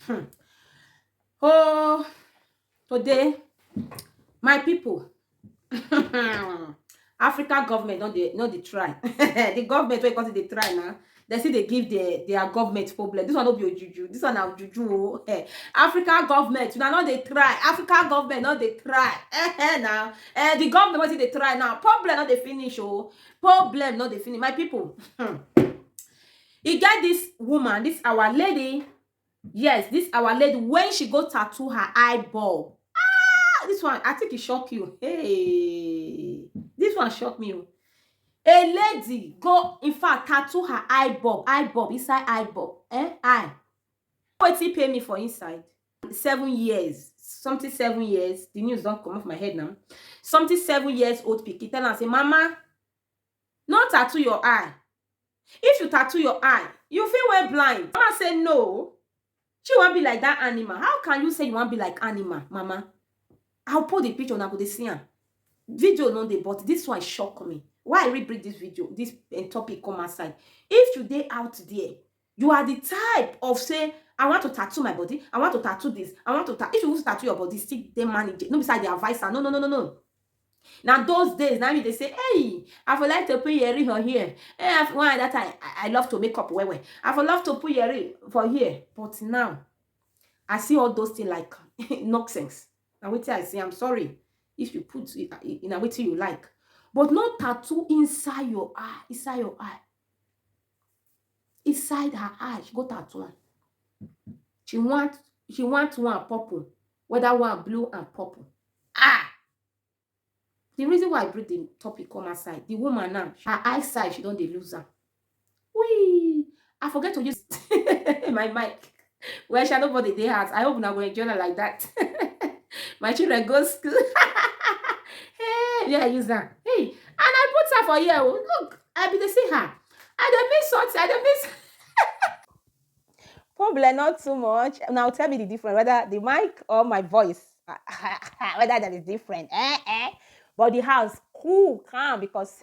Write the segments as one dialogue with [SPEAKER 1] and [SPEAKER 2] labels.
[SPEAKER 1] Hmm. Oh, today, my people, African government not the not the try. the government wey come dey try now. They see they give their their government problem. This one not be juju. This one na juju. Oh. Eh, African government, you know, not they try. African government not they try. Eh, eh, now. Eh, the government what they try now. Problem not they finish. Oh, problem not they finish. My people. Hmm. e get this woman this our lady yes this our lady when she go tattoo her eyeball ah this one i think it shock you hey this one shock me o a lady go in fact tattoo her eyeball eyeball inside eyeball eh eye wetin pay me for inside seven years something seven years the news don comot for my head now something seven years old pikin tell am say mama No tattoo your eye. If you tattoo your eye, you fit wey blind. Mama say no o. Shey you wan be like dat animal? How can you say you wan be like animal, mama? I will put the picture, una go dey see am. Video no dey but dis one shock me. Why I really bring dis video, dis um topic come outside. If you dey out there, You are the type of say I want to tattoo my body, I want to tattoo this, I want to ta if you want to tattoo your body, still dey manage it. No be say I dey advise am. No, no, no, no, no. Na those days na me dey say, hey, I for like to put yeri for here. Hey, I for, one at that time, I, I love to make up well well. I for love to put yeri for here. But now, I see all those things like nonsense. Na wetin I say, I'm sorry if you put it in a wetin you like. But no tattoo inside your eye, inside your eye. inside her eye she go tattoo am she want she want one purple whether one blue and purple ah the reason why i bring the topic come outside the woman now her eyesight she don dey lose am wee i forget to use my mic well sha nobody dey house i hope una go enjoy na like that my children go school hey yeah use am hey and i put her for here o oh. look i bin dey see her i dey miss something i dey miss problem not too much now tell me the difference whether the mic or my voice whether that is different eh eh but the house cool calm because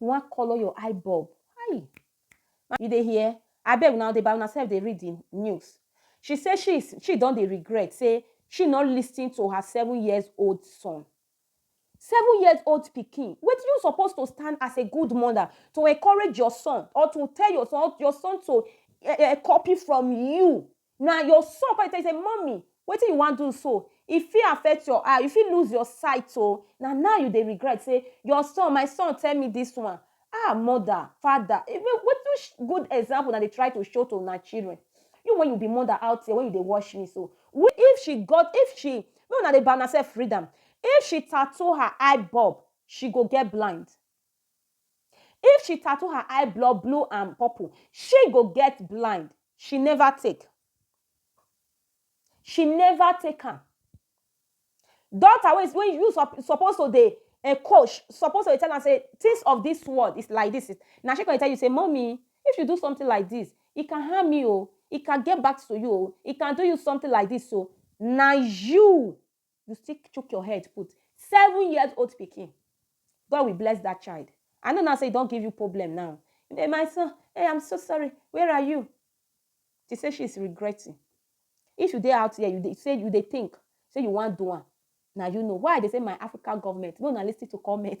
[SPEAKER 1] You wan colour your eye bulb. Hi! You dey hear? Abeg una dey by una self dey read the news. She say she she don dey regret say she no listen to her seven years old son. Seven years old pikin, wetin you suppose to stand as a good mother to encourage your son or to tell your son, your son to uh, uh, copy from you. Na your son come dey tell you say mummy wetin you wan do so e fit affect your eye you fit lose your sight oo na now you dey regret say your son my son tell me this one ah mother father even which good example una dey try to show to una children you wey you be mother out here wey you dey watch me so if she got if she make una dey by una self read am if she tattoo her eye bulb she go get blind If she tattoo her eye blood blue and purple, she go get blind. She never take. She never take am. Daughter wey wey you sup- suppose to dey eh, coach suppose to dey tell am say things of this world is like this. Na she go dey tell you say, mommy, if you do something like this, it can harm me o, it can get back to you o, it can do you something like this o. Na you you still chook your head put seven years old pikin god will bless that child i know now say e don give you problem now hey my son hey i'm so sorry where are you she say she is regretting if you dey out there you dey say you dey think say you wan do am na you know why i dey say my african government no na lis ten to comment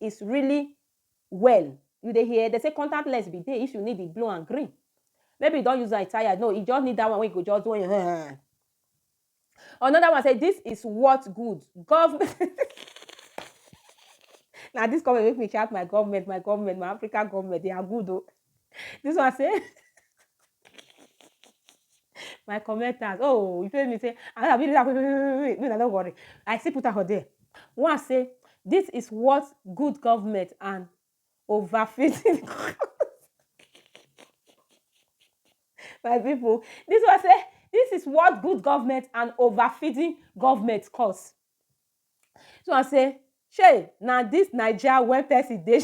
[SPEAKER 1] is really well you dey hear dem say contact lens be dey if you need the blue and green maybe you don use am tired no you just need that one wey you go just do another one say this is what good government Now this comment make me shout my government, my government, my African government, they are good though. This one say my commenters oh you tell me say i no be like make una no worry i still put am for there one say this is what good government and overfitting my people this one say this is what good government and overfeeding government cause Dis one say shey na dis naija wey person dey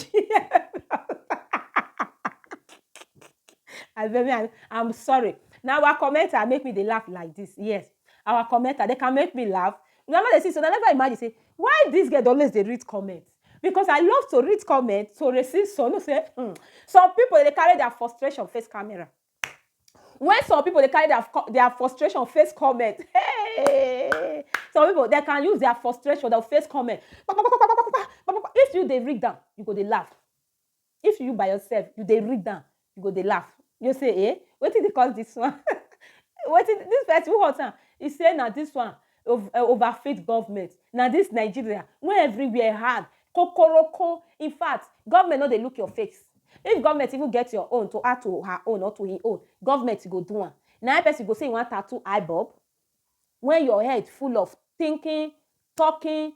[SPEAKER 1] I beg me I'm sorry na our commenter make me dey laugh like this yes our commenter dem can make me laugh una no dey see so una never imagine say why this girl dey always dey read comment because I love to read comment to receive some you know say um some people dem dey carry their frustration face camera When some people dey carry their, their frustration face comment, hey, some people they can use their frustration, they'll face comment. If you they read down, you go they laugh. If you by yourself, you they read down, you go they laugh. You say, eh, what did they cause this one? what did this person who hot? He say now this one. of eh, overfit government na this nigeria when everywhere hard kokoroko in fact government no dey look your face if government even get your own to add to her own or to him own government go do am na person go say you wan tattoo eye bulb when your head full of thinking talking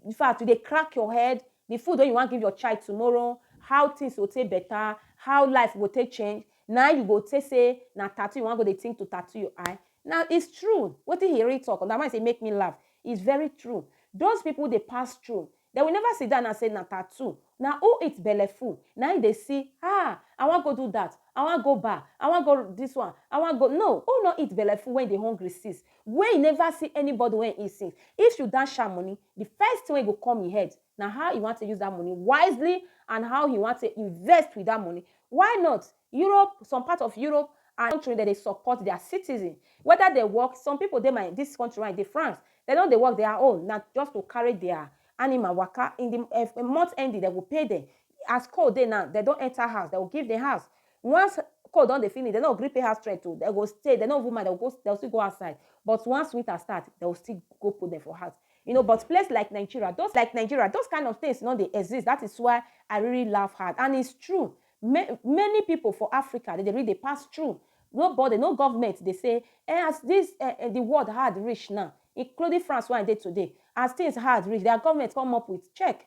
[SPEAKER 1] in fact, you dey crack your head, the food wey you wan give your child tomorrow, how things go take better, how life go take change, na you go take say na tattoo you wan go dey think to tattoo your eye. Now, it's true. Wetin he really talk, na why I say make me laugh. It's very true. Those people dey pass through. They will never sit down and say na tattoo. Na who eat belleful, na him dey see, ah, I wan go do that, I wan go bar, I wan go this one, I wan go. No, who no eat belleful when e dey hungry since? Wey e never see anybody wey e since. If you dash am money, the first thing wey go come e head na how he wan take use that money wisely and how he wan take invest with that money. Why not Europe, some part of Europe and country dem dey support their citizen whether dem work, some people dey my this country wey I dey France, dem no dey work their own na just to carry their animal waka in the month ending dem go pay dem. As cold dey now, dem don enter house, dem go give dem house. Once call don dey finish, dem no gree pay house rent o, dem go stay, dem no even mind, dem go go, dem go still go outside. But once winter start, dem go still go put dem for house. You know, but place like Nigeria, those like Nigeria, those kind of things no dey exist. That is why I really laugh hard. And it's true. Ma many people for Africa, dem dey really dey pass through. Nobody, no government dey say, Eh, as this eh eh the world hard reach now, including France wey I dey today, as things hard reach, their government come up with check.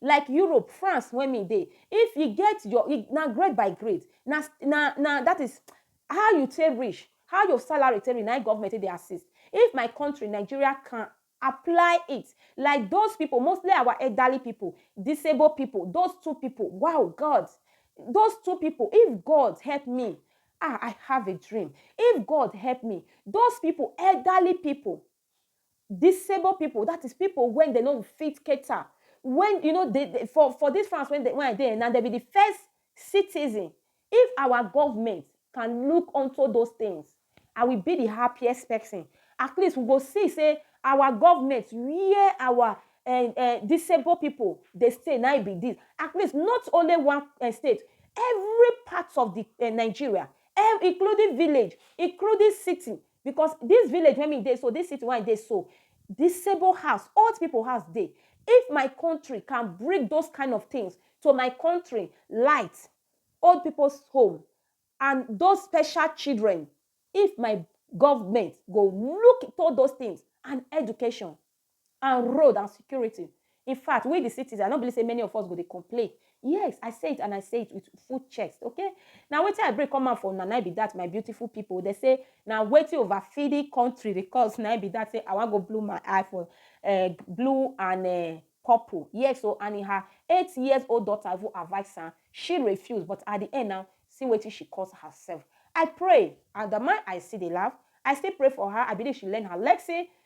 [SPEAKER 1] like Europe, France wey me dey, if you get your e na grade by grade, na na na dat is how you take reach, how your salary take reach na im government take dey assist. If my country Nigeria can apply it like those pipu mostly our elderly pipu, disabled pipu, those two pipu wow God, those two pipu if God help me ah I have a dream, if God help me those pipu elderly pipu Disabled pipu, dat is pipu wey dem no fit cater, wey you know dey dey for for dis France wey I dey now, dem be de first citizen. If our government can look onto those things, I will be de happiest person. At least we go see sey our government where our um um disabled pipu dey stay na im be dis. At least not only one um state, every part of de um Nigeria, including village, including city, Because dis village wey me dey so, dis city wey I dey so, disable house, old pipu house dey. If my country can bring those kind of things to my country, light, old pipu's home and those special children, if my government go look into those things and education, and road and security. In fact, we the citizens, I no believe say many of us go dey complain. Yes, I say it and I say it with full chest, okay? Na wetin I bring come out for una na be that, my beautiful people. They say na wetin overfeeding country dey cause na be that say I wan go blue my eye for uh, blue and uh, purple. Yes, so and in her eight years old daughter even advise her, she refused. But at the end now, see wetin she cause herself. I pray, and the man I see dey laugh, I still pray for her. I believe she learn her lesson.